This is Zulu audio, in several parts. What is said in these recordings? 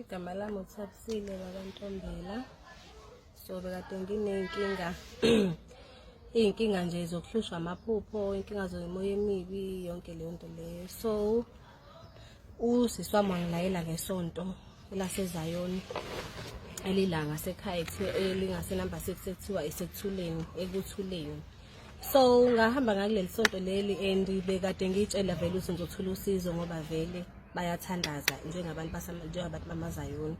igama lami uthabisile bakantombela so bekade nginey'nkinga iy'nkinga nje zokuhlushwa amaphupho inkinga zomoya emibi yonke leyo nto leyo so usisi wami wangilayela ngesonto elasezayoni elilanga sekhaya elingasenumber six ekuthiwa isekuthuleni ekuthuleni so ngahamba ngakuleli sonto leli and bekade ngiyitshela vele ukuthi ngizothola usizo ngoba vele bayathandaza njengabantu njengabantu bamazayoni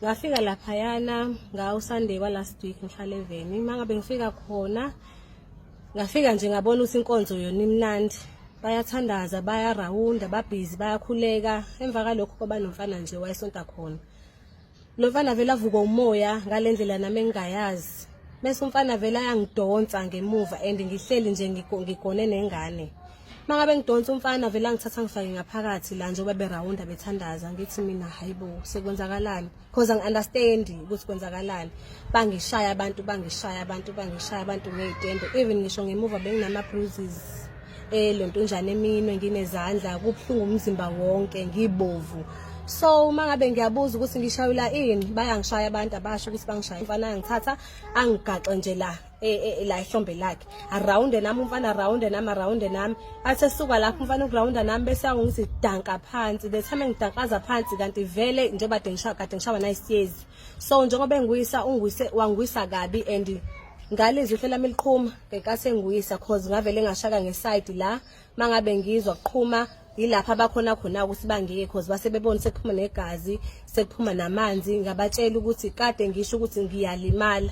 ngafika laphayana ngawusunday walast week ngihlale eveni uma ngabe ngifika khona ngafika nje ngabona ukuthi inkonzo yona imnandi bayathandaza bayarawunda babhizi bayakhuleka emva kalokho kwabanomfana nje wayesonta khona Lomfana vele avukwa umoya ngalendlela nami engingayazi. Bese umfana vele ayangidonsa ngemuva and ngihleli nje ngigone nengane. Mangabe ngidonsa umfana vele angithatha ngifake ngaphakathi la njengoba berawunda bethandaza ngithi mina hayibo sekwenzakalani because angi understand ukuthi kwenzakalani. Bangishaya abantu bangishaya abantu bangishaya abantu ngezitende even ngisho ngemuva benginama bruises. eh lento njani eminwe nginezandla kubuhlungu umzimba wonke ngibovu so uma ngabe ngiyabuza ukuthi ngishayula ini bayangishaya abantu abasho ukuthi bangishaya mfana angithatha angigaxe nje la e, e, e, la ihlombe lakhe around nami umfana around nami around nami athe suka lapho umfana uground nami bese awungithi danka phansi the time ngidankaza phansi kanti vele njengoba dengishawa kade ngishawa nayisiyezi so njengoba engwisa ungwise wangwisa kabi and ngalizwi hle lami liqhuma ngekase ngwisa cause ngavele ngashaka ngeside la mangabe ngizwa kuqhuma yilapha abakhona khona ukuthi bangeke cause base bebona sekuphuma negazi sekuphuma namanzi ngabatshela ukuthi kade ngisho ukuthi ngiyalimala